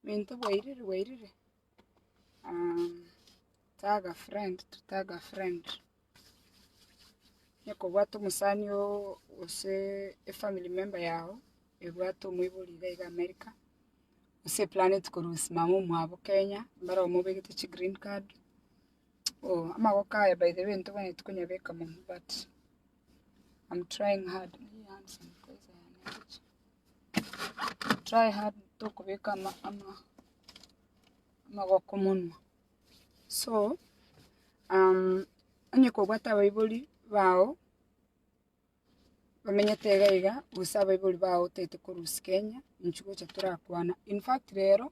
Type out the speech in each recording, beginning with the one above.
Binto bwairire bwairire tag a friend to tag a friend onye kobwate omosani gose efamily member yago ebwate omoibori iga iga America gose eplaneti korwa simama omwabo Kenya mbare omobegete chi green card amagoko aya by the way ntobwenereti konyabeka mono but. I'm trying hard. Try hard tokobeka ama ama amagoko munwa. So um onye kobwata abaibori bao bamenyete iga iga gose abaibori bao tete korusia Kenya inchuo gocha torakwana. In fact rero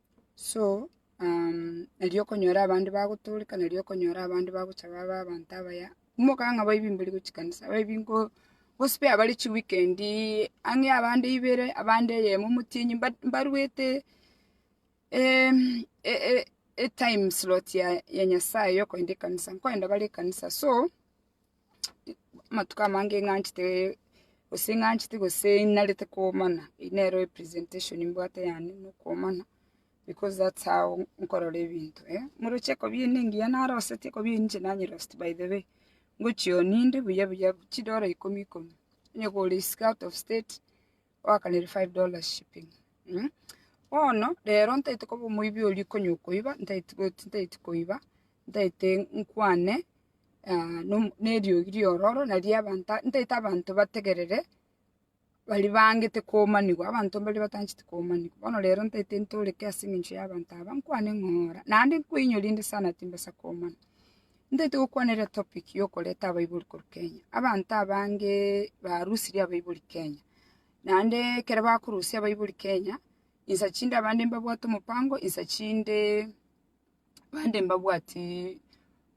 So, um, nari okonyora abande bagotooreka, nari okonyora abande bagocha babe abanto abaya. Kumokana ng'a baibi mbari gochia kanisa, baibi nko gospare bare chiweekend ang'e abande ibere, abande eyemo motienyi but mbaruete em, e- e- etime slot ya ya Nyasaye yokoenda ekanisa, nkoenda bare ekanisa so, amatuko amange ng'anchete gose ng'anchete gose narete komana, eye nero representation mbwate yane na okomana because that's how nkorora ebinto eh. Morochi ekobia eyio nengiya naroseti ekobia eyio ninche nanyerosetie by the way, ngochia oo ninde buya buya chidora ikomi ikomi, onye kore isiko out of state. Oakanire five dollars shipping mh bono rero ntaete koba omoibi oria okonya okoiba ntaete goti ntaete koiba ntaete nkwane ah, nom- neriogi riororo naria abanto ntaete abanto bategerere bari bangete komanigwa abanto mbari batancheti komanigwa bono rero ntaete ntoreke ase eng'encho y'abanto aba nkwane ng'oo ora naende nkoinyore inde sana timbasa komana. Ntaete gokwana ere topic yokoreta abaibori korwa Kenya. Abanto abange barusirie abaibori Kenya. Naende ekero bakorusia abaibori Kenya, insa chinde abande mbabwate omopango, insa chinde bande mbabwati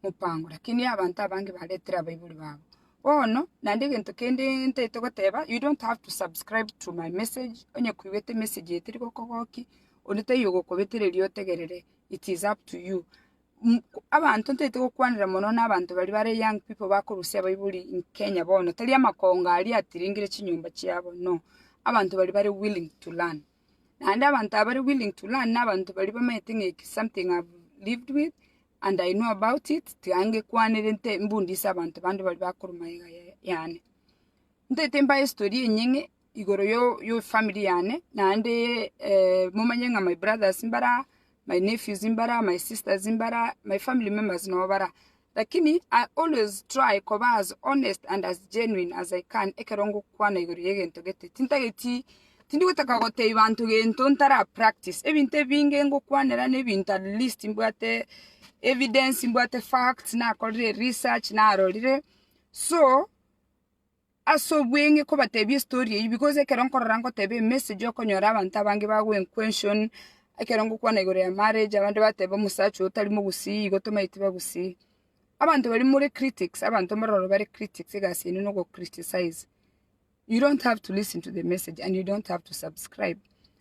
mopango. Lakini abanto abange baretere abaibori babo. Bono, naende egento kende ntaete goteba, you don't have to subscribe to my message, onye koigwete emessage eye teri gokogokia, onde taiyo ogokobetera erio otegerere, it is up to you. mm, abanto ntaete gokwanera mono na abanto bari bare young people bakorusia baibuli in Kenya bono tari amakongo aria atiringire chinyomba chiabo no abanto bari bare willing to learn naende abanto aba bare willing to learn na abanto bari bamaete ng'a eke something I've lived with and I know about it tiga ngekwanere nte mbundise abanto bande bari bakorwa magega ya- yane ntaete mbae story enyeng'e igoro yo yo family yane naende eh momanye ng'a my brothers mbara, my nephews mbara, my sisters mbara, my family members nabo bara. Lakini I always try koba as honest and as genuine as I can ekero ngokwana igoro y'egento gete. Tintageti tindi gotaka gotebia banto gento ntara practice. Ebinto ebinge ngokwanera na ebinto at least mbwate evidence, mbwate facts, nakorire research, narorire. So, as'obweng'e kobatebia estori eyio because ekero nkorora ngoteba emessage okonyora abanto abange bagoa enquension, ekero ngokwana igoro ya marriage abande bateba omosacha oyo tari mogusii igo tomaeti bagusii. Abanto baria more critics abanto mbororo bare critics egasi yaino nogo criticize. You don't have to listen to the message and you don't have to subscribe.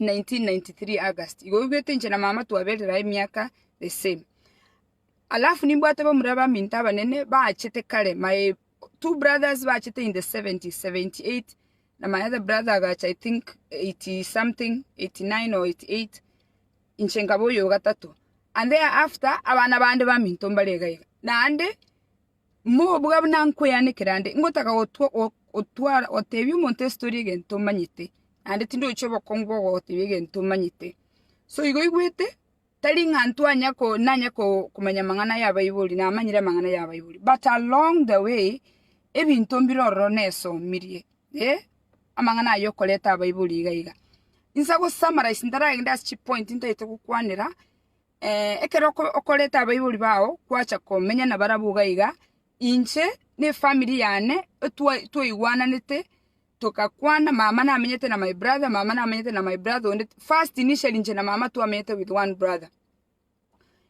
1993 August igo oigwete inche na mama twaberera emiaka the same alafu nimbwate bamura baminto abanene bachete kare my two brothers bachete in the 70 78 na my other brother agacha i think 80 something 89 or 88 inche nkaba oyo gatato and there after abana bande baminto mbare iga iga naende Mobua buna nkweanekera nde, ngotaka gotwara gotebia omonto ase tore egento omanyete, naende tindochia obokongu bwa gogotebia egento omanyete. So igo oigwete, tari ng'a ntwanya ko nanya ko komanya amang'ana ya baibori, namanyire amang'ana ya baibori, but along the way, ebinto mbire ororo nesomirie, eh, amang'ana ayio okoreta abaibori iga iga. Inse gosummarize ntaragende ase chipoint ntaete gokwanera, Ekero okoreta abaibori bao gwacha komenya nabarabwo iga iga, inche ne efamiri yane twaigwananete, togakwana, mama namenyete na my brother, mama namenyete na my brother onde, first initially inche na mama twamenyete with one brother,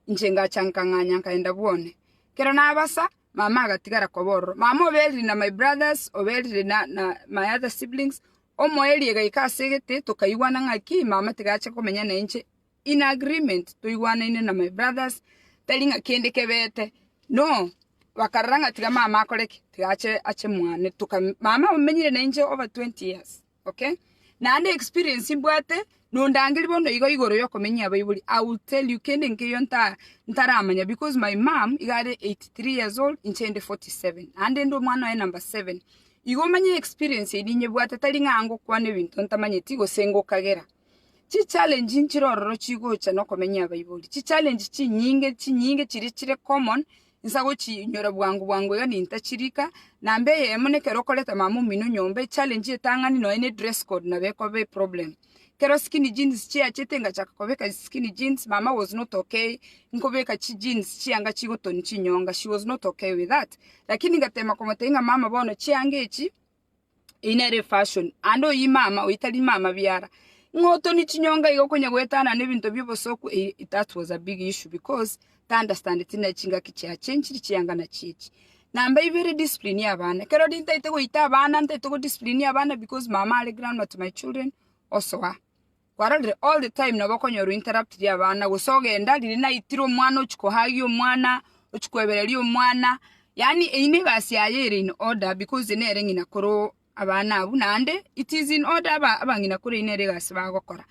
inche ngacha nkang'anya nkaenda bwone. Ekero nabasa, mama agatigara koba ororo. Mama oberire na my brothers, oberire na na my other siblings, omoerio egaika ase egete, tokaigwana ng'aki mama tiga ache komenya nainche, In agreement, toigwanaine na my brothers, tari ng'a kende kebete, no bakarora ng'a tiga mama akore ki? Tiga ache ache mwane toka mama omenyire na inche over 20 years, okay? Naende experience mbwate nondangerie bono igo igoro ya okomenyia abaibori, I will tell you kende nkeiyo nta ntaramanya because my mum iga are 83 years old inche inde 47, naende inde omwana oye number seven, igo omanye experience eria ninyebwate tari ng'a ngokwana ebinto ntamanyeti gose ngokagera. Chichallenge nchire ororo chigocha nokomenya abaibori, chichallenge chinyinge chinyinge chiria chire common inse agochiinyora bwango bwango iga nintachirika, namba eyemo nekero okoreta mama omino nyomba echallenge etang'ani nonya ne dress code nabo ekoba eproblem. Kero skinny jeans chiachete ngachaka kobeka skinny jeans, mama was not okay nkobeka chijeans chianga chigotoni chinyonga, she was not okay with that, lakini ngatema komotebia ng'a mama bono chianga echi Eyio nere efashion, aande oyio imama oyio tari mama biara. Ng'a otoni chinyonga iga okonya goetana na ebinto bia obosoku eyio that was a big issue because taunderstandeti na chingaki chia changed chianga na chiachi. Namba ibere discipline ya abana, ekero nintaete goita abana ntaete go discipline abana because mama are groundnut to my children osoa. Kwarorire all the time nabo okonyorwa interrupt ria abana gose ogenda riria naitire omwana ochia kohagia omwana ochia koebereria omwana yaani eyio ne egasi yaye ere in order because nere ng'ina koro abana abwo naende it is in order aba abang'ina koro eyio nere egasi bagokora.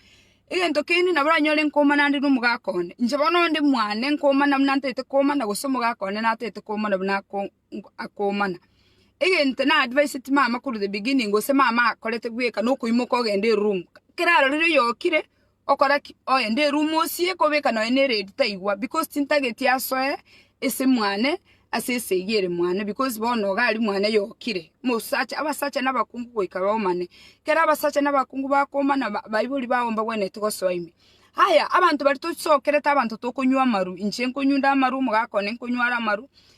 Egento kende nabo oranyore nkomana ande na omogaka one inche bono onde mwane nkomana buna ntagete komana gose omogaka one natagete komana buna ako. akoomana. Egento na advised mama korwa the beginning gose mama akorete bweka nokoimoka ogende eroom kera arorire oyokire okora ki? Ogende eroom osie kobeka nonya ne redi taigwa because tintageti asoe ase mwane ase esegi ere mwane because bono iga aria mwane yokire mosacha abasacha na abakungu goika baomane kera abasacha na abakungu bakomana baibori bago mbagwenerete gosoa ime. Haya abanto baria tosokerete abanto tokonywa amaru inche nkonywa nde amaru omogaka one nkonywa are amaru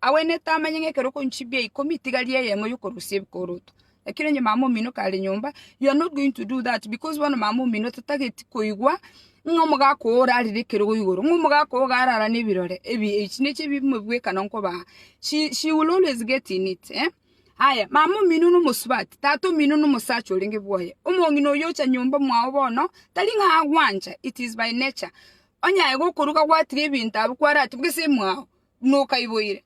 Agwenerete amanye ng'a ekero okonywa chimbi echi ikomi, tiga ria eyemo y'okorusia ebikoroto. Lakini onye mama omino kare nyomba, you are not going to do that because bono mama omino tatageti koigwa ng'a omogaka oo orarire ekero igo igoro, ng'a omogaka oo iga arara na ebirore ebi echi nechi ebimo ebi bwekana nkobaa. She she will always get in it eh. Aya, mama omino na omosubati, tata omino na omosacha orenge bwoye. Omong'ina oyio ocha nyomba mwao bono, tari ng'a agwancha, it is by nature. Onye aye gokoruga gwatiga ebinto abwo kwaratiga gose mwao, buna okaiboire.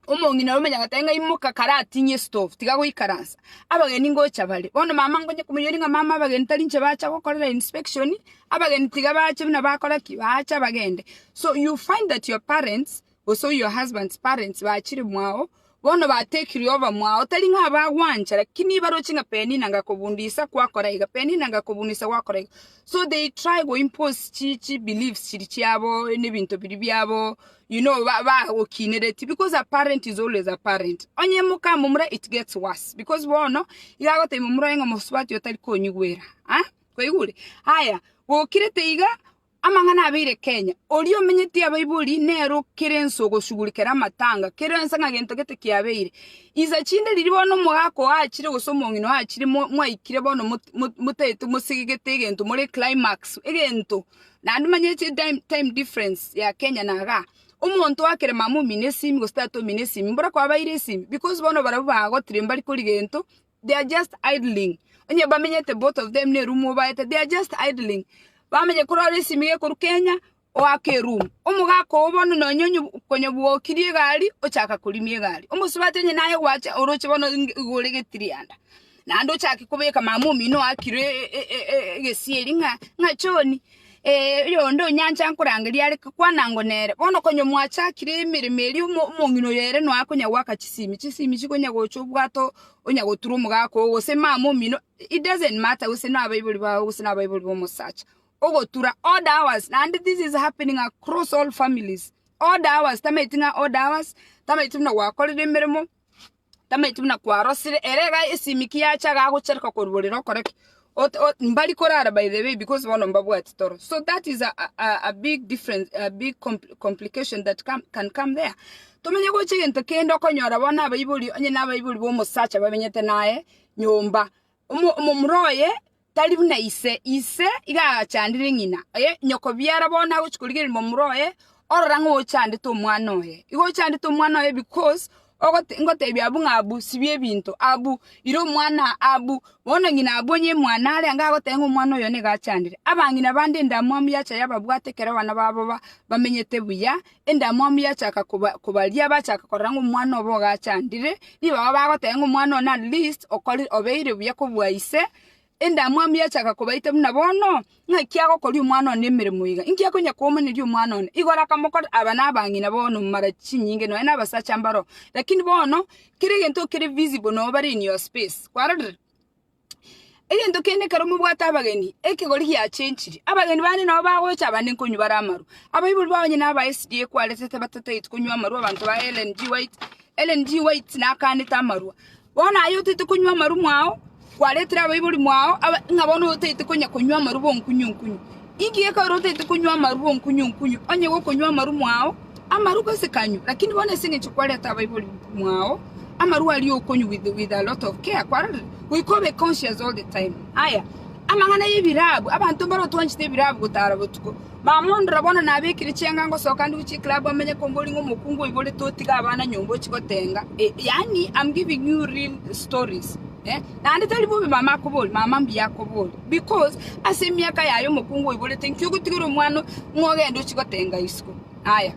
Omong'ina omenye agoteba ng'a imoka kare ating'ie stove tiga goikaransa. Abageni ngocha bare, bono mama ngonye komoiraneria ng'a mama abageni tari inche bacha gokorera inspection, abageni tiga bache buna bakora ki? Bacha bagende. So you find that your parents gose your husband's parents bachire mwao Bono bateekirwe oba mwao, tari ng'a abagwancha, lakini baroche ng'a Penina ngakobundisa gwakora iga, Penina ngakobundisa gwakora iga. So they try go impose chi chi beliefs chiri chiabo, nebinto biria biabo, you know, ba bagokinereti because a parent is always a parent. Onye moka momura it gets worse because bono iga agotebia momura oye ng'a omosubati oyo tari konyigwera, ah, kwaigure? Aya, gokirete iga, Amang'ana abeire Kenya, oria omenyeti abaibori nere okere ense ogoshugurikera amatanga kero ense ng'a gento gete kiabeire. Insa chinde riria bono omogaka oo achire gose omong'ina oo achire mwaikire bono motaete mosegegete egento more climax egento naende manye time difference ya Kenya na igaa. Omonto akere mama omino esimi gose tata omino esimi mbora kwabaire esimi because bono barabwo bagotire mbari kori gento they are just idling onye bamenyete both of them ne room obaete they are just idling bamenye korora esimi gekoru kenya oake room omogaka oo bono nonye onye konye bwokirie egari ochaka korimia egari omosubati onye naye gwache oroche bono nge- igo ore getirianda naende ochake kobeka mama omino oakire e- e- e- egesieri ng'a ng'a John. Oyonde onyancha nkorangeria are kwana ngo nere. Bono konya mwachakire emeremo eria omong'ina oyo ere noa konya goaka chisimi, chisimi chikonya gocha obwato onya gotura omogaka oo gose mama omino it doesn't matter gose nabaibori bao gose nabaibori bomosacha ogotura odd hours naende this is happening across all families odd hours tamaeti ng'a odd hours tamaeti buna gwakorire emeremo tamaeti buna kwarosire, ere iga esimiki yacha iga agochereka koruborera okore ki? Ot- ot- mbari korara by the way because bono mbabwati toro. So that is a, a, a- a big difference, a big compl- complication that come, can come there. Tomenye gocha egento kende okonyora bono abaibori, onye na abaibori ba omosacha babenyete naye nyomba. Omo- omomura oye. Tari buna ise, ise iga agachandire ng'ina oye, nyokobiara bono agochia korigereria momura oye, orora ng'a ochandete omwana oye. Igo ochandete omwana oye because ogote ngotebia abwo ng'a abwo sibia ebinto, abwo ira omwana, abwo bono ng'ina abwo onye mwane are angaa goteba ng'a omwana oyo nigo achandire. Abang'ina bande endamwamu yacha yababwata ekero abana babo ba bamenyete buya, endamwamu yachaka kobaria bachaka korora ng'a omwana obo iga achandire, nigo abwo bagoteba ng'a omwana one at least okorire obeire buya kobua ise, endamwamu yachaka kobaita buna bono, ng'aki agokoria omwana one emeremo iga? Inki akonya komoneria omwana one? Igoro akamokorera, aba na abang'ina bono mara chinyinge nonye na abasacha mbaro, lakini bono kera egento kere visible noo bare in your space, kwarorire? Egento kende ekero mobwate abageni, ekegori giachenchiri. Abageni bande nabo bagocha abande nkonywa bare amarwa. Abaibori bao onye naba SDA kwarete tibatatagete konywa amarwa abanto ba Ellen G. White. Ellen G. White nakanete amarwa. Bono aye otete konywa amarwa mwao, kwaretire abaibori mwao, aba- ng'a bono otete konya konywa amarwa bonkunyu nkunyu. Inki gekorire otaete konywa amaru onkunyu onkunyu, onye gokonywa amaru mwao amaru gose kanywa? Lakini bono ase engencho kwareta abaibori mwao amaru aria okonywa with, with a lot of care, kwarorire, goika obe conscious all the time. Aya, amang'ana y'ebirabu, abanto mbaro twanchete ebirabu gotara botuko. Mama ondora bono nabekire chianga ngosoka ndi gochia eclub amenye kombori ng'a omokungu oiborete otige abana nyomba ochie gotenga. Eh, yaani I'm giving you real stories. Eh, naende tari bobe mama akobori, mama mbuya akobori, because ase emiaka yaye omokungu oiborete nki ogotigera omwana ng'a ogende ochie gotenga isiko. Aya,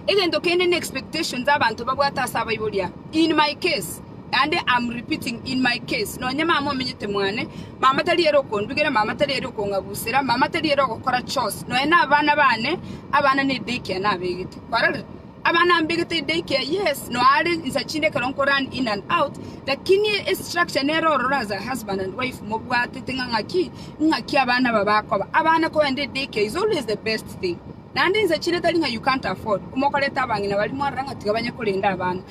egento kende ne expectations abanto babwate ase abaibori aba. In my case, naende I'm repeating, in my case, nonye mama omenyete mwane, mama tari ere okondugera, mama tari ere okong'abusera, mama tari ere ogokora chores, nonye na abana bane, abana ne daycare nabegete. Kwarorire? Abana mbe gete day care yes no are insa chinde ekero nko run in and out lakini e structure nero ororo as a husband and wife mobwatete ng'a ng'aki ng'aki abana aba bakoba abana kogenda e day care is always the best thing naende insa chinde tari ng'a you can't afford omokoreta abang'ina baria mwarora ng'a tiga banye korenda abana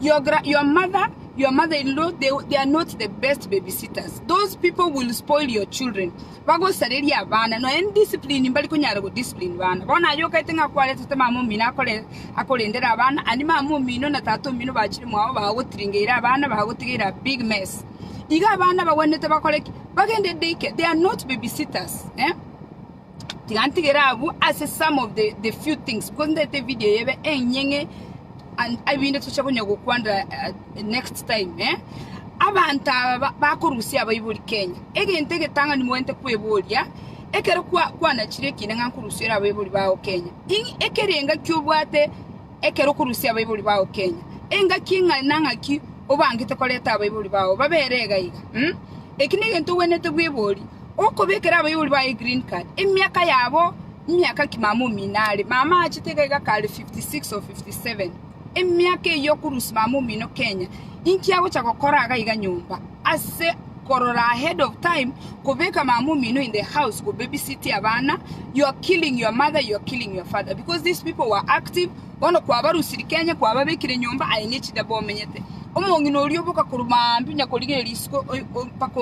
your, gra- your mother your mother in law they, they are not the best babysitters those people will spoil your children Bagosareria abana, nonya n'discipline mbari konyara godiscipline bana. Bono aye okaete ng'a akwaretete mama omino akore, akorendere abana, and mama omino na tata omino bachire mwao bagotiringeire abana, bagotigeire a big mess. Iga abana bagwenerete bakore ki? Bagende day care, they are not babysitters, eh? Tiga ntigere abwo ase some of the, the few things, because ndete evideo eye ebe enyeng'e, and ebinde toche konya gokwanera eh, next time eh? abanto aba ba- bakorusia abaibori kenya egento egetang'ani moente kweboria ekero kwa- kwanachire ekiina ng'a nkorusiera abaibori bao kenya Ing'i ekere engaki obwate ekero okorusia abaibori bao kenya engaki ng'a nang'aki obangete koreta abaibori bao babere iga iga mm? eki negento obwenete bwebori Okobekera abaibori baye green card emiaka yabo miaka ki mama omino are mama aachete iga iga kare 56 or 57 emiaka eyio okurusia mama omino kenya inki agocha gokora iga iga nyomba ase korora ahead of time kobeka mama omino in the house go baby sit abana you are killing your mother you are killing your father because these people were active bono kwabarusirie kenya kwababekire nyomba aye ne chida bomenyete omong'ina oria oboka korwa maambia onya korigereria risigo mpaka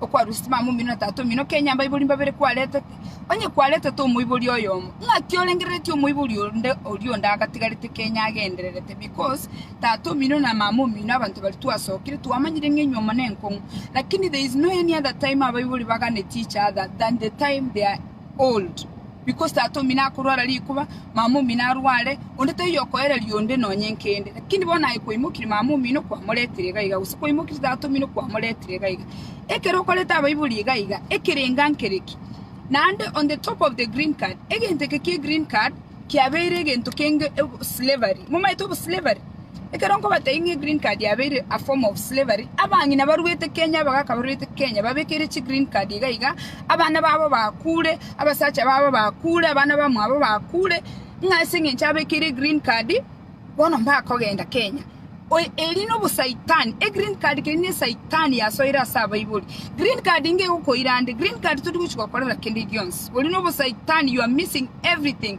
okwarusirie mama omino na tata omino, kenya abaibori mbabere kwaretete, onye kwaretete omoibori oyomo, ng'aki orengereretie omoibori onde oria onde agatigarete kenya agendererete? Because tata omino na mama omino abanto baria twasokire twamanyire ng'a inwe amo nenkong'u, lakini there is no any other time abaibori baganeti each other than the time they are old. Because tata omino akorwara rikuba, mama omino arware, onde taiyo okoereria onde nonya enkende. Lakini bono aye kwaimokirie mama omino kwamoretire iga iga, gose kwaimokirie tata omino kwamoretire iga iga. Ekero okorete abaibori iga iga, ekerenga nkere ki? Naende on the top of the green card, egento eke kie green card kiabeire egento kenge obo slavery. Momaete obo slavery? Ekero nkobatebia ng'a egreen card yabeire a form of slavery, abang'ina baruete Kenya, abagaka baruete Kenya, babekeire chi green card iga iga, abana babo bakure, abasacha babo bakure, abana bamwabo bakure, ng'a ase eng'encho abekeire egreen card, bono mbakogenda Kenya. Oye- Eri nobosaitani, egreen card keri ne esaitani yasoire ase abaibori. Green card nigo egokoira nde, green card tori gochi gokorera kende gionsi. Ori nobosaitani, you are missing everything.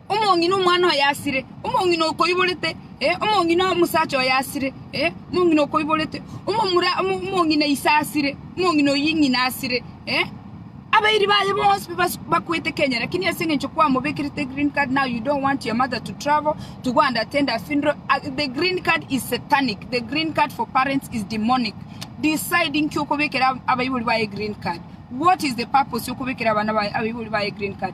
Omong'ina omwana oye asire, omong'ina okoiborete, ee, omong'ina omosacha oye asire, ee, omong'ina okoiborete, omomura omong'ina ise asire, omong'ina oyio ing'ina asire, ee. Abairi baye bonsi bas- bakwete Kenya, lakini ase eng'encho kwamobekerete green card now you don't want your mother to travel to go and attend her funeral. Ah, the green card is satanic, the green card for parents is demonic. Decide nki okobekera ab- abaibori baye green card. What is the purpose yokobekera abana baye abaibori baye green card?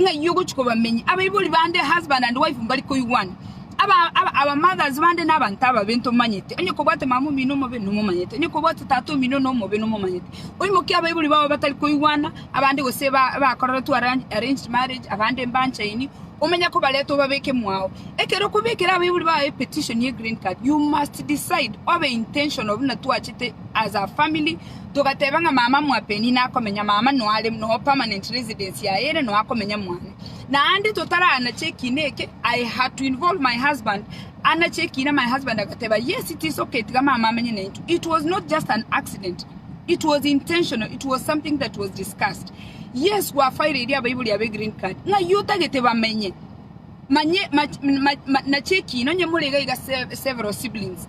ng'ayio ogochia kobamenya abaibori bande husband and wife mbari koigwana aba aba our mothers bande na abanto ababe ntomanyete onye kobwate mama omino omobe nomomanyete onye kobwate tata omino nomobe nomomanyete oimokie abaibori babo batari koigwana abande gose ba bakoreretwe arrange arranged marriage abande mbanchaini omenya kobareta obabeke mwao ekero okobekera abaibori bao epetition ye green card you must decide obe intentional buna twachete as a family Togateba ng'a mama mwa Penny nakomenya mama noare no permanent residence yaye ere no akomenya mwane. Naende totaranache ekiina eke I had to involve my husband anache ekiina my husband agateba yes tisoke tiga mama amenye nainto it was not just an accident it was intentional it was something that was discussed yes gwafairirie abaibori abe green card ng'a ayio otagete bamenye manye mach- ma- ma- nache ekiina onye morega iga se- several siblings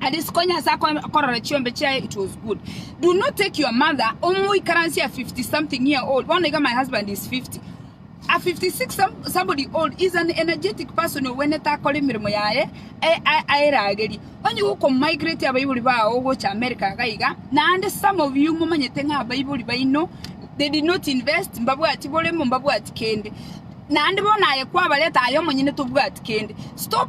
And isiko Nyasae akorora chiombe chiaye it was good. Do not take your mother omoikaransie a 50 something year old. Bono iga my husband is 50. A 56 some, somebody old is an energetic person ogwenete akore emeremo yaye a- a- aeragerie. Onye gokomigrate abaibori bao gocha America iga iga naende some of you momanyete ng'a abaibori baino they did not invest mbabwati boremo mbabwati kende. Naende bono aye kwabareta aye omonyene tobwati kende. Stop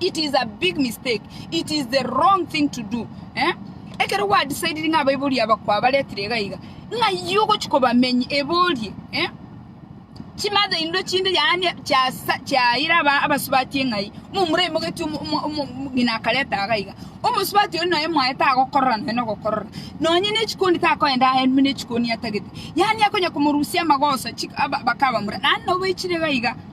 It is a big mistake. It is the wrong thing to do. Eh? Ekero gwadisaidiri ng'a abaibori aba kwabaretire iga iga, ng'a yi ogochi kobamenyi eborie, eh? chimatha indo chinde yaani chiasa chiaira aba abasubati eng'ai momura emogeti omo- omo- omo- omogina akareta iga iga omosubati oyo noe mwaye tagokorora noe nogokorora nonye ne chikoni takoenda aye muna echikoni atagete yaani akonya komorusia amagoso chik- aba- bakabamura naende nabo baichire iga iga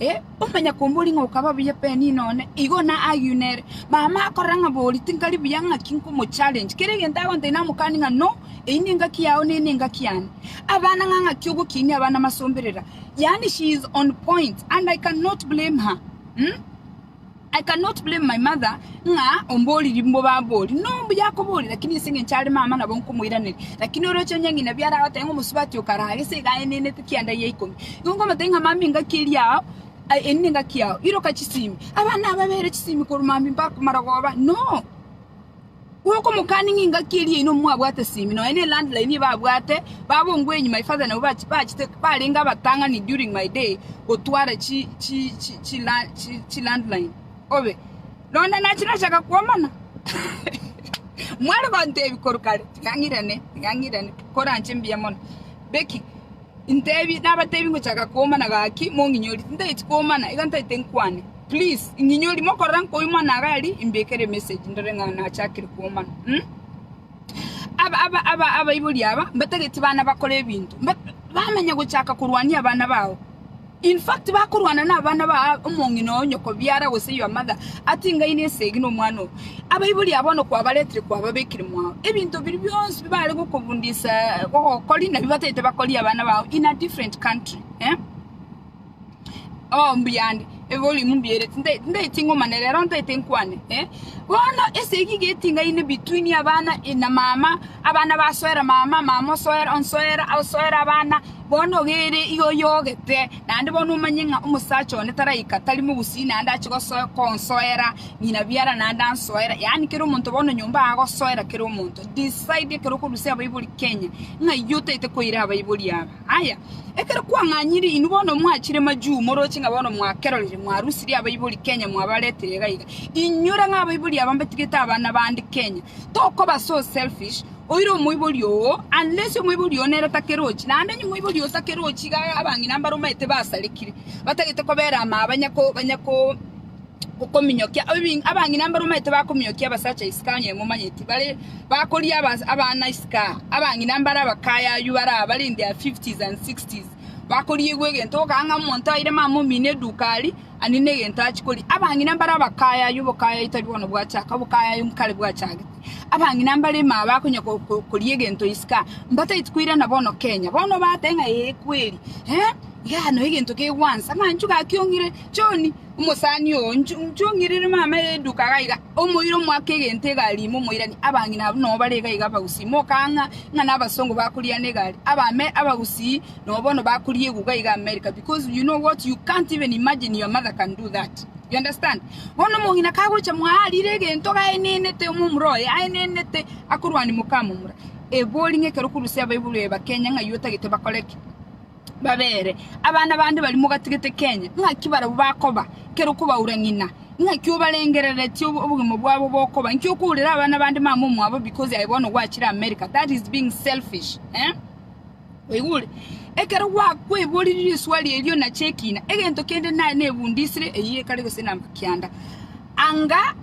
Ee, omanya kombori ng'a okaba buya Penina one igo na Agiu nere. Mama akorora ng'a bori tinkari buya ng'aki nkomochallenge. Kera egento agonta inamokani ng'a no, eyi nengaki yao neye nengaki yane. Abana ng'a ng'aki ogokinia abana masomberera. Yaani she is on point and I can not blame her. Umm. I cannot blame my mother ng'a omboririe mbobambori nomuya akoboria lakini ase engencho are mama nabo nkomoiraneria lakini oroche onye ng'ina biara agoteba ng'a omosubati okaraa gese iga aye nenete kianda ya ikomi igo nkomotebi ng'a mama engaki eri yao ai eri nengaki yao iroka chisimi abana ababere chisimi korwa mambia mpaka komarogoba no Bw'okomokani ng'a engaki eria yaino mwabwate simi, nonya ne land line eye babwate, babongwe enyima ye father nabo bachete barenge abatang'ani during my day gotwara chi land line obe londa nache nachaka kwomana mware gontebi korwa kare ting'ang'irane ting'ang'irane koranche mbuya mono Becky. Intebi, nabatebi ngochaka koomana gaki mong'inyori, tintageti koomana, iga ntagete nkwane. Please, ing'inyori, mokorora nkoyio mwana agari, imbekere emessage ndore ng'a nachakire koomana. Umm. Aba, aba, aba, abaibori aba, mbatageti bana bakore ebinto. Mba, bamanya gochaka korwania abana bao. In fact bakorwana nabana ba omong'ina o nyoko biara gose your mother atingaine esegi nomwana oo. Abaibori aa bono kwabaretire kwababekire mwao. Ebinto biria bionsi bibare gokobundisa gogokori nabio bataete bakorie abana bao in a different country eh? Oh mbuya ande eborimu mbiere tinde tindaeti ng'omane rero ntaete nkwane eh? Bono esegi iga etingaine between abana eh, na mama abana basoera mama, mama osoera onsoera osoera abana Bono ogereire iga oyogete, naende bono omanye ng'a omosacha one taraika tari mogusii naende ache gonsoera ng'ina biara naende ansoera, yaani kera omonto bono nyomba aa agosoera kera omonto. Decide ekero okorusia abaibori Kenya ng'ai otaete koira abaibori aba. Aya, ekero kwang'anyire inwe bono mwachire majuu moroche ng'a bono mwakerorire mwarusirie abaibori Kenya mwabaretire iga iga. Inyora ng'a abaibori aba mbatigete abana bande Kenya. Tokoba so selfish. Oire omoibori oo, unless omoibori oo nere takerochi, naende onye omoibori oo takerochi iga abang'ina mbare omanyete basarekire, batagete kobera amaya banya ko banya ko kominyokia ebi abang'ina mbare omanyete bakominyokia abasacha isiko onye momanyeti bare bakoria abas abana isiko abang'ina mbare abakaya aywo bare aba bare in their fifties and sixties, bakoriigwa egento ogokora ng'a omonto aire mama omino eduka aria, anini egento achi koria, abang'ina mbare abakaya aywo obokaya aye tari bono bwachaka, obokaya aye kare bwachagete. Abang'ina mbare ime aba konya koria egento isika, mbataeti koirana bono Kenya. Bono bateba ng'a ee kweri, eh, igaa no egento kegwansa. Amanchu gakiong'ire, John, omosani oo, nchu- nchung'irire mama eduka iga iga, omoira omoake egento egari ime omoirani. Abang'ina abwo nabo bare iga iga abagusii, mokang'a ng'a nabasongo bakoriana egari. Abame abagusii nabo bono bakoria eguga iga America because you know what, you can't even imagine your mother can do that. You understand? Bono omong'ina kagocha mwaarire egento gaenenete omomura oye aenenete akorwania mokamomura, ebori ng'a ekero okurusia abaibori baye bakenya ng'ai otagete bakore ki? Babeere abana bande baria mogatigete Kenya, ng'aki barabwo bakoba ekero okobaura ng'ina? Ng'aki obarengereretie obo- obogima bwabo bokoba? Inki okourera abana bande mama omwabo because aye bono gwachire America? That is being selfish, eh? Oigure, ekero gwakweborirwe riswali erio nache ekina, egento kende naye nebundisire eyio ekare gose namba kianda. Anga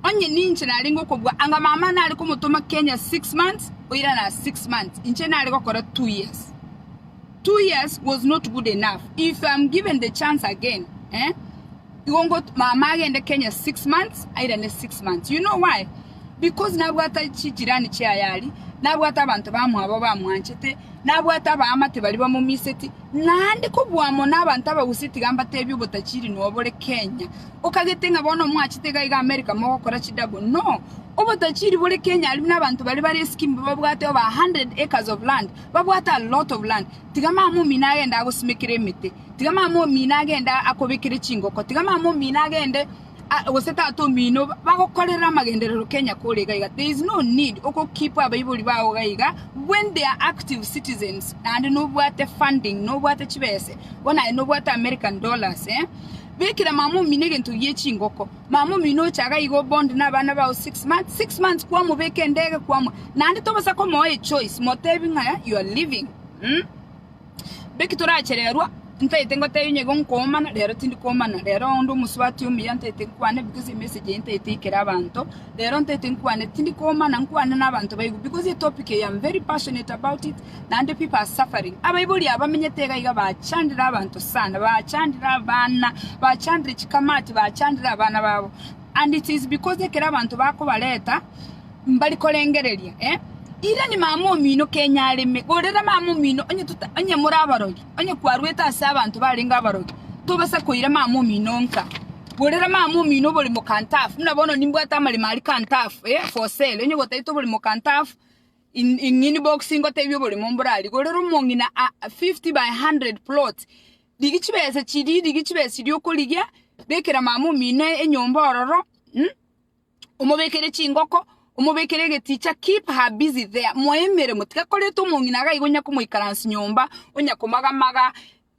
onye ninche narenge okobua, anga mama nare komotoma Kenya six months, oirana six months, inche nare gokora two years. Two years was not good enough. If I'm given the chance again, eh, Igo ngot mama agende Kenya six months airane six months you know why? Because nabwate chijirani chiaye aria, nabwate abanto bamwabo bamwanchete, nabwate abaamate baria bamomiseti, naende kobua amo nabanto abagusia tiga mbatebie obotachiri nobore Kenya. Okagete ng'a bono mwachete iga iga America mogokora chi double no! Obotachiri bore Kenya aria buna abanto baria bare scheme babwate over a hundred acres of land, babwate a lot of land, tiga mama omino agende agosimekere emete, Tiga mama omino agende akobekere chingoko, tiga mama omino agende a- gose tata omino bagokorere amagenderero Kenya kore iga iga. There is no need oko keep abaibori bao iga iga when they are active citizens naende nobwate funding, nobwate chibese, bono aye nobwate American dollars eh. Bekera mama omino egento gie chingoko, mama omino oche iga iga obond na abana bao six months, six months kwamobeka endege kwamo, naende tobosa komoa echoice, motebi ng'a you are leaving mh. Beki toraachererwa, ntaete ngotebia onye igo nkoomana, rero tindi koomana, rero onde omosubati omuya ntaete nkwane, because emessage eye ntaete ikere abanto, rero ntaete nkwane, tindi koomana nkwane na abanto baigu, because etopic eye am very passionate about it, naende people are suffering. Abaibori aba bamenyete iga iga bachandire abanto sana, bachandire abana, bachandire chikamati, bachandire abana babo, and it is because ekero abanto bakobareta. Mbari korengereria, eh, irani mama omino kenya areme, gorera mama omino onye tota, onye more abarogi, onye kwarwete ase abanto barenge abarogi, tobasa koira mama omino nka, gorera mama omino oborimo kantafu, buna bono nimbwate amaremo aria kantafu, eh, for sale, onye gotaete oborimo kantafu, in, in in box ngotebia oborimo mborari, gorera omong'ina a fifty by hundred plot, rigia chibesa chiria, rigia chibesa chiria okorigia, bekera mama omino enyomba ororo, mh. omobekere chingoko, omobekere egeticha, keep her busy there, moe emeremo, tiga koreta omong'ina iga iga onya komoikaransi nyomba, onya komaga-maga,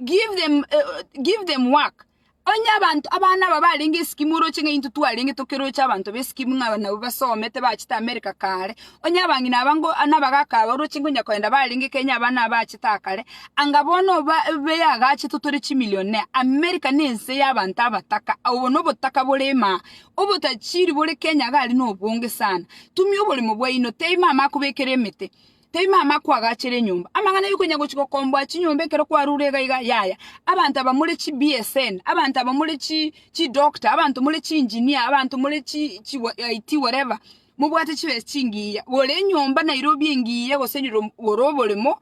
give them uh, give them work. Onye abanto abana aba barenge eskimu oroche ng'a intwe twarenge tokeroche abanto b'eskimu ng'a nabo basomete bachete America kare, onye abang'ina aba ngo nabagaka aba oroche ngonya kogenda barenge Kenya abana aba bachete aa kare, anga bono oba beyagachetwe tore chimillionaire. America nense y'abanto abataka, obo nobotaka borema aa, Obotachiri bore Kenya iga aria nobonge sana. Tumia oboremo bwaino. Tei mama akobekera emete. Tei mama akwagachere enyomba. Amang'ana aria okonya gochi gokomboa chinyomba ekero kwarure iga iga yaya. Abanto aba more chi BSN, abanto aba more chi chi doctor, abanto more chi engineer, abanto more chi chi wa IT whatever, mobwate chibesa chingiya. Gora enyomba Nairobi engiya gose nyiro gora oboremo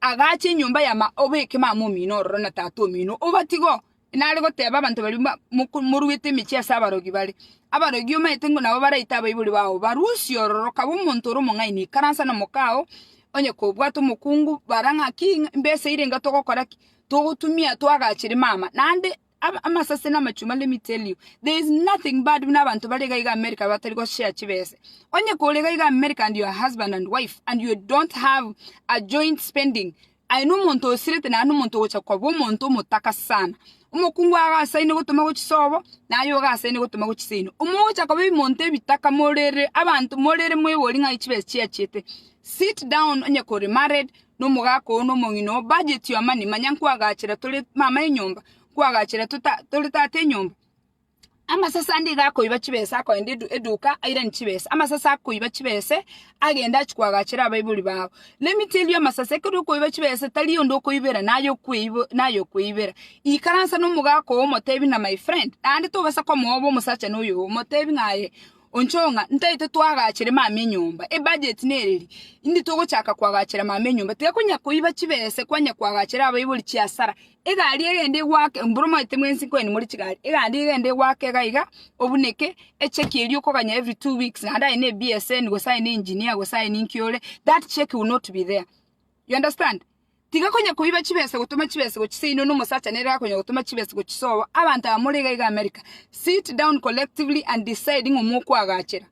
Agaacha enyomba ya ma oboyeke mama omino ororo na tata omino obatigo, nare goteba abanto baria ba- moko- moruete emechie ase abarogi bare. Abarogi omaete ng'o nabo baraite abaibori bao barusie ororo, kaba omonto ore omong'aini ikaransa nomoka oo, onye kobwate omokungu, bara ng'a ki, imbesa eire enga togokora ki? Togotumia twagaachere mama, naende Ama- amasase na amachuma let me tell you there is nothing bad buna abanto bare iga iga america batari goshare chibese onye kore iga iga america and your husband and wife and you don't have a joint spending aye na omonto osirete naye na omonto ogocha koba omonto omotaka sana omokungu agasaine gotoma go chisobo naye ogasaine gotoma go chiseino omogocha koba ebimonto ebitaka morere abanto morere moebori ng'ai chibesa chiachete sit down onye kore married nomogaka oo nomong'ina oo bajetie amani, manya nkwagachera tore mama enyomba, nkwagachera tota tore tata enyomba. Amasase ande iga akoiba chibesa akoenda edu eduka airanie chibesa, amasase akoiba chibese, agende achie koagachera abaibori bago. Na emito eria y'amasase ekero okoiba chibesa tari onde okoibera naye okoibo naye okoibera. Ikaransa nomogaka oo omotebi ng'a my friend, naende tobasa komoa obe omosacha noyo oo, motebi ng'a aye. Onchoo ng'a ntaete twagachere mama enyomba. Ebudget nereri, indi togochaka kwagachera mama enyomba. Tiga konya koiba chibese kwanya kwagachera abaibori chiasara. Egari egende egwake, mboro omanyete mwensi nkonya nimore chigari, egari egende egwake iga iga, obuneke, echeki eria okoganya every two weeks naende aye ne BSN gose aye ne engineer gose aye ninki ore, that check will not be there. You understand? Tiga konya koiba chibesa gotoma chibesa gochisa inwe nomosacha nere akonya gotoma chibesa gochisa oo abanto aba more igaiga America sit down collectively and decide ng'a mokwagachera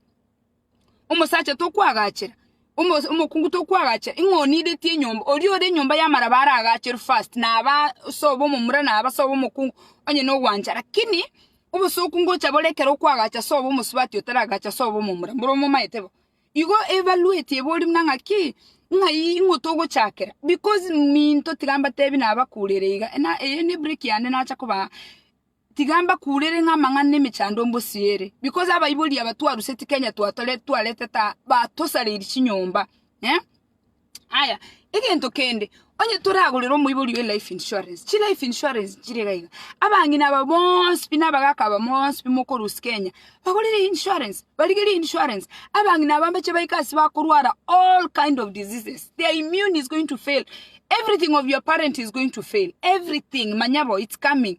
omosacha tokwagachera omos omokungu tokwagachera ing'o onideti enyomba oria ore enyomba yamaraba aragacherwe first naba sobo omomura naba sobo omokungu onye nogwancha lakini obosokungu ocha bore ekero okwagacha sobo omosubati otaragacha sobo omomura mboro momaete bo. Igo ebaruetie ebori buna ng'aki, ng'ai ing'o togochakera? Because minto tiga mbatebi nabakurere iga, na eye ne break yane nacha kobaa, tiga mbakurere ng'a amang'ana na emechando mbosiere, because abaibori aba twaruseti Kenya twatore twaretete aa, batosareiri chinyomba eh. Aya, egento kende, onye toragorere omoibori oye life insurance, chi life insurance chire iga iga, abang'ina aba bonsi pi na abagaka aba bonsi pi mokorusia Kenya, bagorire eye insurance, barigerie eye insurance, abang'ina aba mbache baike ase bakorwara all kind of diseases, their immune is going to fail, everything of your parent is going to fail, everything, manya bo, it's coming.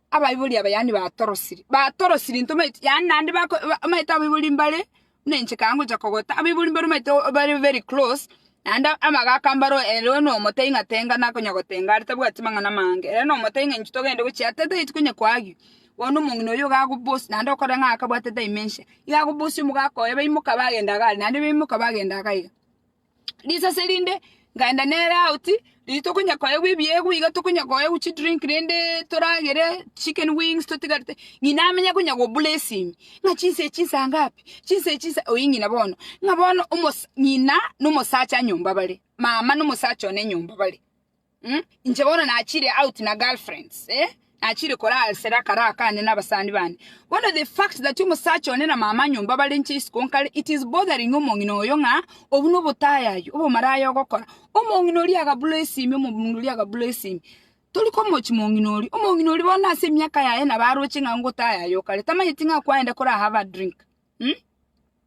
abaibori aba yaani batorosiri, batorosiri intwe omanyete yaani naende bako ba omanyete abaibori mbare buna inche ekero ngocha kogota, abaibori mbare omanyete o bare very close, naende amagaka mbaro ere one omotebi ng'a tenga nakonya gotenga are tabwati mang'ana amange, ere one omotebi ng'a inchuo togende gochia aa tataeti konya koagio, bono omong'ina oyio iga agobosie naende okore ng'a akabwate dementia, iga agobosie omogaka oye baimoka bagenda iga are naende baimoka bagenda iga iga. risase rinde, nkaenda nere out, riria tokonya koegwa ebiegwa iga tokonya koegwa chidrink rende toragere chicken wings totigarete, ng'ina amenye konya goblessing, ng'a chinsa echi nsa ngapi? chinsa echi nsa oyio ng'ina bono, ng'a bono omosa ng'ina na omosacha nyomba bare, mama na omosacha one nyomba bare. mm, inche bono nachire out na girlfriends eh nachire korasera akaro akande n'abasani bande bono the fact that omosacha one na mama nyomba bare inche isiko nkare it is bothering omong'ina oyo ng'a obwo nobotayayi obomaraya ogokora omong'ina oria agabura esimi omong'ina oria agabura esimi tori komochi mong'ina oria omong'ina oria bono ase emiaka yaye nabo aroche ng'a ngotayayi okare tamanyeti ng'a kwaenda kora have a drink mm.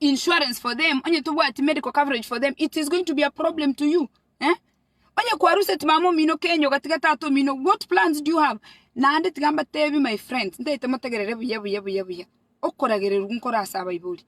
insurance for them onye tobwati medical coverage for them it is going to be a problem to you eh? onye kwaruseti mama omino kenya ogatiga tata omino what plans do you have naende tiga mbatebi my friend ntaete motegerere buya buya buya buya okoragererwa nkore ase abaibori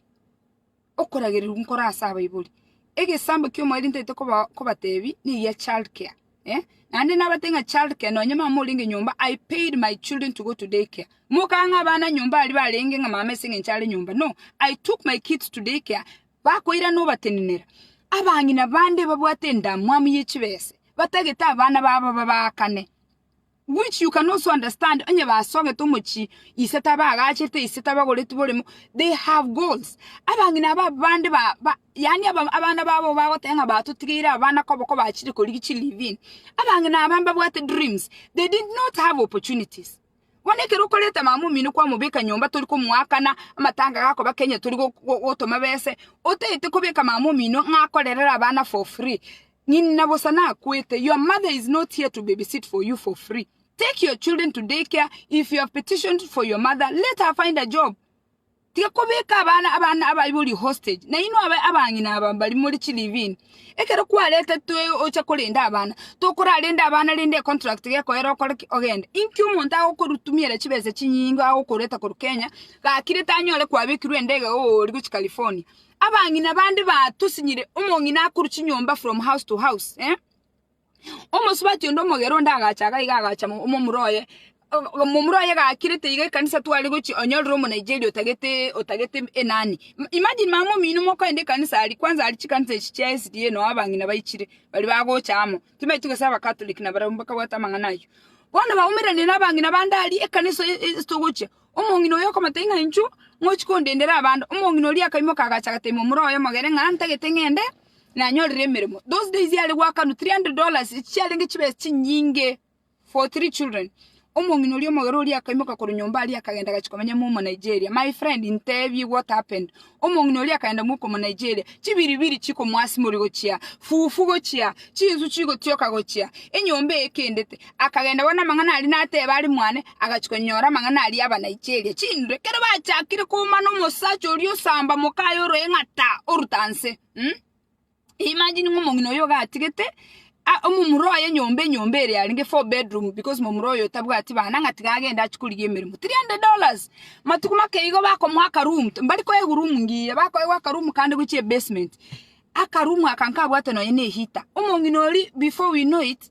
okoragererwa nkore ase abaibori egesambo kia omoerio ntaete koba kobatebi nigia child care eh? naende nabate ng'a childcare nonye mama morenge nyomba i paid my children to go to daycare mokaa ng'a abana nyomba aria barenge ng'a mama ase eng'encho are nyomba no i took my kids to daycare bakoirana obatenenera abang'ina bande babwate endamwamu ye chibese batagete abana babo babaakane Which you can also understand onye basogete omochie ise tabagachirete ise tabagoreti boremo they have goals abang'ina aba bande ba, ba yani aba, abana babo bagoteba ng'a batotigeire abana kobo kobachire korigi chi live in abang'ina aba mbabwate dreams they did not have opportunities bono ekero okoreta mama omino kwamobeka nyomba tori komoakana amatanga gakoba kenya tori go- go- gotoma bese otagete kobeka mama omino ng'a akorerere abana for free Ng'ina bosa nakwete, Your mother is not here to babysit for you for free. Take your children to day care, if you have petitioned for your mother, let her find a job. Tiga kobeka abana abana abaibori hostage, na inwe abe abang'ina aba bari more chilivini. Ekero kwaretetwe ocha korenda abana, tokorarenda abana rende econtract gekoera okore ki? Ogende. Inki omonto agokorutumiera chibesa chinyinge agokoreta korwa Kenya, gakire tanyore kwabekirwe endege ooria gochia California? Abang'ina bande batosinyire omong'ina akorwa chinyomba from house to house eh? omosubati onde omogero onde agacha iga iga agacha mo- momura oye O- momura oye gakirete iga ekanisa tware gochi onyorire omonaigeria otagete otagete enani M- imagine mama omino mokoenda ekanisa aria kwanza aria chikanisa echi chia SDA noo abang'ina baichire baria bagocha amo timaeti gose abakatoliki nabarabwo bakabwate amang'ana aywo bono baumerane na abang'ina bande aria ekanisa e- e- esitogochia. Omong'ina oyo okomata ing'a inchuo, Ngochi kondendera abande? Omong'ina oria akaimoka agacha agateema omoro oye omogere ng'a ntagete ng'ende nanyorere emeremo. Those days yare goakanwa 300 dollars, echi chiarenge chibesa chinyinge for three children. Omong'ina oria omogere oria akaimoka korwa nyomba aria akagenda agacha komenya amo omo Nigeria. My friend, intebie what happened? Omong'ina oria akaenda mokomonaicheria, chibiribiri chikomoasimori gochia, fufu gochia, chinsu chigotioka gochia, enyomba eye ekendete. Akagenda bono amang'ana aria nateba are mwane, agachia konyora amang'ana aria abanaicheria chinre. Ekero bachakire koumana omosacha oria osamba mokaye oroeng'ata oruta nse, um. Imagine ng'a omong'ina oyo iga atigete ah omomura oye enyomba enyomba ere arenge four bedroom because momura oyo tabwati bana ng'a tiga agende achie korigia emeremo three hundred dollars matuko make igo bakomoa aka room mbari koe eroom ngiya bakoegwa aka room kande gochia ebasement aka room aka nkabwate nonye ne eheater omong'ina oria before we know it.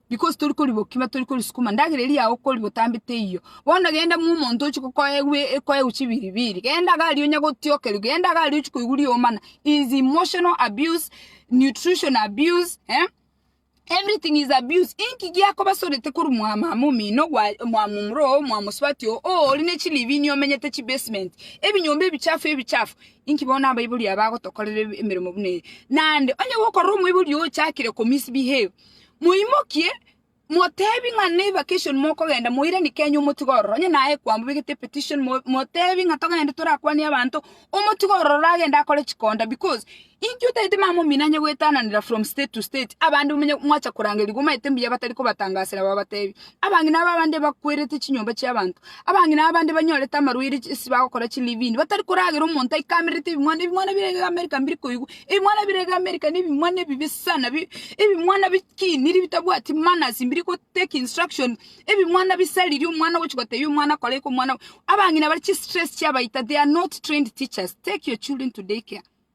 Because tori koriboki ma tori korisukuma, ndagera eria yao kori gotambete eyio. Bono genda mwa omonto ochie kokoegwa e- ekoegwa chibiribiri, genda iga aria onya gotiokerigwa, genda iga aria ochie koigwa riomana, is emotional abuse, nutrition abuse, eh, everything is abuse, inki giakobasorete korwa mwa mama omino, gwa- mwa momura oo, mwa mosubati oo, oo ori ne chiribini omenyete chibasement, ebinyomba ebichafu ebichafu, inki bono abaibori aba bagotokorera eb- emeremo buna eye? Naende, onye gokorora omoibori oyo ochakire komisbehave, Moimokie, moteebie ng'a nevacation mokogenda, moiranie Kenya omotiga ororo. Onye naye kwamobegete epetition, mo- moteebie ng'a togende torakwanie abanto, omotiga ororo agende akore chikonda because, inki otaete mama omino anye goetananera from state to state, abande omenye mwacha korangerigwa omanyete mbuya batari kobatangasera babateebie. Abang'ina aba abande bakwerete chinyomba chi'abanto. Abang'ina aba abande banyorete amarwaire ase bagokora chilivini, batari koragera omonto aikamerete ebimwana, ebimwana bire iga Amerika mbiri koigwa. Ebimwana bire iga Amerika nebimwana ebibe sana, bi- ebimwana bikiniri bitabwati manners, mbiri go take instruction, ebimwana bisariria omwana ogochi gotebia omwana kora eke omwana. Abang'ina bare chistress chiabaita, they are not trained teachers. Take your children to day care.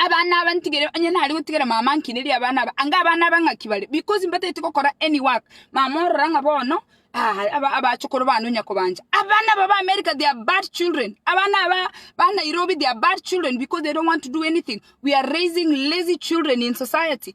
Abana aba ntigere, onye nare gotigera mama nkinerie abana aba, anga abana aba ng'aki bare, because mbatagete gokora any work, mama orora ng'a bono, aa aba abachokoro bane onya kobancha. Abana aba ba America they are bad children, abana aba ba Nairobi they are bad children because they don't want to do anything, we are raising lazy children in society.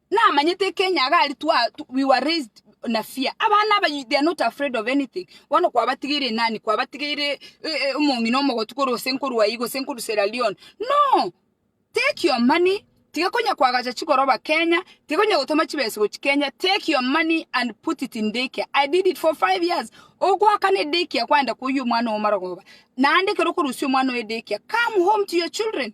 Namanyete ekenya iga aria twa, tw- we were raised na fear. Abana aba you- they are not afraid of anything. Bono kwabatigeire enani? Kwabatigeire eh, eh, omong'ina omogotu korwa gose nkorwa ayio gose nkorwa Sierra Leone? No! Take your money, tiga konya kwagacha chigoroba Kenya, tiga konya gotoma chibesa gochi Kenya, take your money and put it in daycare. I did it for five years. Ogoakana edaycare kwaenda koyia omwana ogo marogoba. Naende ekero okorusia omwana oye daycare, come home to your children.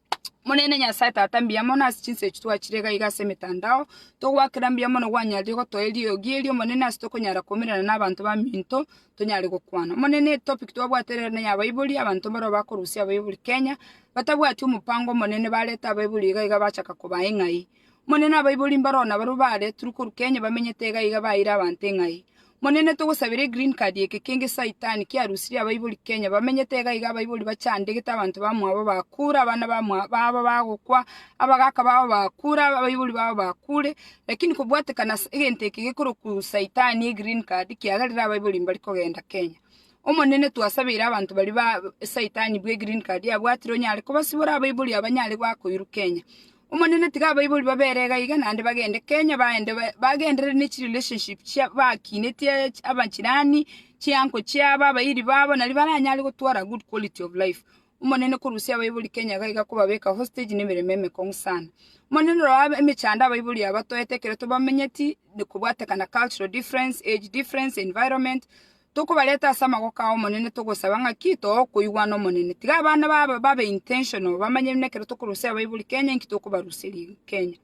Omonene Nyasae Tata, mbuya mono ase chinsa echi twachire iga iga ase emetandao. Togoakera mbuya mono gwanyarire gotoa eriogi eri, Omonene, ase tokonyara koumerana na abanto baminto, tonyare gokwana. Omonene, etopic twabwate ere nere ya abaibori, abanto mbarabwo bakorusia abaibori Kenya, batabwati omopango omonene, bareta abaibori iga iga bachaka kobaa ing'ai. Omonene abaibori mbaroo nabarabwo baare turu korwa Kenya bamenyete iga iga baeire abanto eng'ai. Omonene togosabera e green card eke kenge saitani kiarusirie abaibori Kenya bamenyete iga iga abaibori bachandegete abanto bamwabo bakure abana bamwa babo bagokwa abagaka babo bakure abaibori babo bakure lakini kobwatekana ase egento eke gekorokwa saitani e green card kiagerire abaibori mbari kogenda Kenya. Omonene twasabeire abanto baria ba saitani bwe green card abwatire onyare kobasibora abaibori abanyare goakoirwa Kenya. Omonene tiga abaibori babere igaiga naende bagende Kenya baende bagenderere ne chirelationship chia bakinetie abachirani, chianko chiabo, abairi babo nario baranyare gotwara good quality of life. Omonene korusia abaibori Kenya iga iga kobabeka hostage ne emeremo emekong'u sana. Omonene rora aba emechando abaibori aba batoete ekero tobamenyeti, kobwatekana cultural difference, age difference, environment, Tokobareta ase amagoko ay'Omonene togosaba ng'aki togokoigwa n'Omonene. Tiga abana babo babe intentional bamanye buna ekero tokorusia abaibori Kenya inki tokobaruseria Kenya.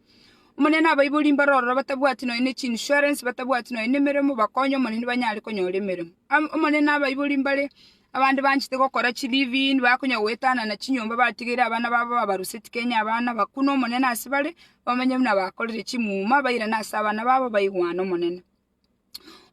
Omonene abaibori mbare ororo batabwati nonya ne chiinsurance, batabwati nonya nemeremo bakonye Omonene banyare konyora emeremo. Omonene abaibori mbare abande banchete gokora chi live in bakonya goetana na chinyomba batigeire abana babo babaruseti Kenya abana bakune Omonene ase bare bamanye buna bakorire chimuma bairane ase abana babo baigwane Omonene.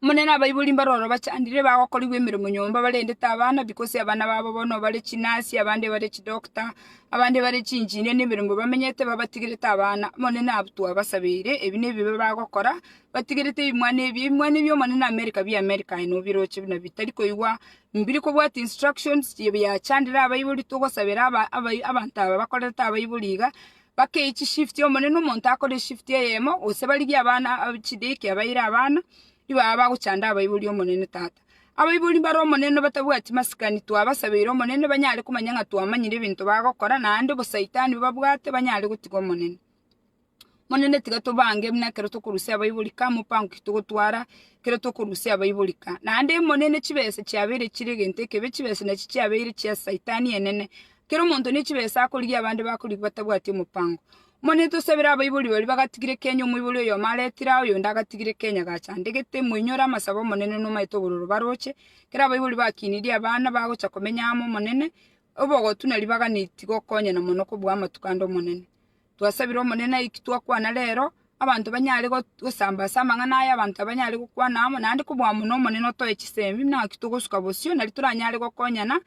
Omonene abaibori mbaro oro bachandire, bagokorigwa emeremo nyomba barende tabana, because abana babo bono bare chinasi, abande bare chidoctor, abande bare chinjinia na emeremo bamenyete babatigire tabana. Omonene abwo twabasabeire, ebi nebibe bagokora, batigerete ebimwana ebi, ebimwana ebi Omonene America bie America aye nobiroche buna bitari koigwa, mbiri kobwati instructions, biachandire abaibori, togosabera aba- abai abanto aba bakorerete abaibori iga, Bakeiche chishift Omonene omonto akore eshift eyemo gose barigie abana chideki abaire abana nibo aba bagochanda abaibori Omonene Tata. Abaibori mbare Omonene obatabwati masikani twabasabeire Omonene banyare komanya ng'a twamanyire ebinto bagokora naende obosaitani babwate banyare gotiga Omonene. Omonene tiga tobange buna ekero tokorusia abaibori ka mopango ki togotwara ekero tokorusia abaibori ka. Naende Omonene chibesa chiabeire chire egento ekebe chibesa nachi chiabeire chia saitani enene Kera omonto ne chibesa akorigia abande bakorigwa batabwati omopango. Omonene tosabire abaibori baria bagatigire kenya omoibori oyomo aretire aa oyonde agatigire kenya gachandegete moinyore amasabo omonene nomaete obororo baroche kera abaibori bakinirie abana bagocha komenya amo omonene obogotu na ribaga niti gokonyana mono kobua amatuko ande omonene. Twasabire omonene aiki twakwana rero abanto banyare gosamba ase amang'ana aya abanto abanyare gokwana amo naende kobua mono omonene otoe chisemi naki togosuka bosio nari toranyare gokonyana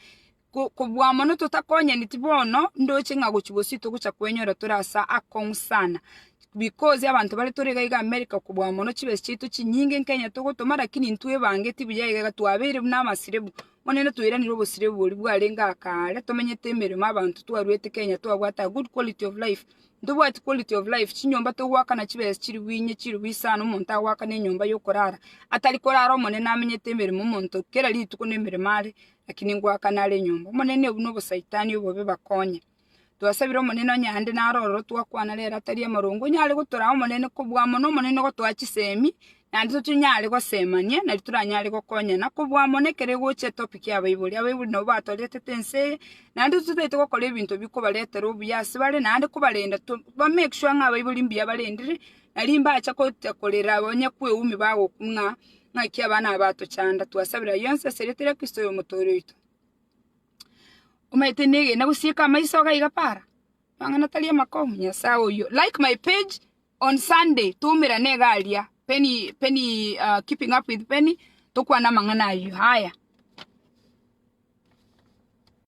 Kobua mono totakonyaneti bono, ndoche ng'a gochia bosio togocha kwenyora tore ase akong'u sana, because abanto bare tore iga iga America kobua mono chibesa chiaito chinyinge Kenya togotoma lakini intwe ebangeti buya iga iga twabeire buna amasirebu, bono rende toiranire obosirebu boria bwarenge aa kaare tomenyete emeremo abanto twarwete Kenya twabwate a good quality of life, ntobwati quality of life, chinyomba togoaka na chibesa chiri bwinye chiri buya sana omonto agoaka na enyomba yokorara, atari korara omonene amenyete emeremo omonto kera rituko nemeremo are, Lakini ngoakana are nyomba. Omonene obu nobosaitani obobe bakonye. Twasabire Omonene onye aande naro ororo twakwana rere atari amorongo onyare gotoraa Omonene kobua amo n'Omonene ogotoa chisemi naende tonyare gosemania nari toranyare gokonyana kobua amo nekero egocha etopic ya abaibori. Abaibori nabo batoretete ense eye naende totaete gokora ebinto bikobaretera obuya ase bare naende kobarenda to ba make sure ng'a abaibori mbuya barendire nari mbacha gocha korera onye kweumi bagokwa ng'a ng'aki abana aba atochanda, twasabera aya onsi ase erieta ria Kristo Oyomotoori oito. Omanyete negena gosieka amaiso iga iga para, amang'ana atari amakong'u, Nyasae oyio. Like my page on Sunday, twaumerane iga aria, Penny, Penny, ah, Keeping Up With Penny, tokwane amang'ana ayio. Haya.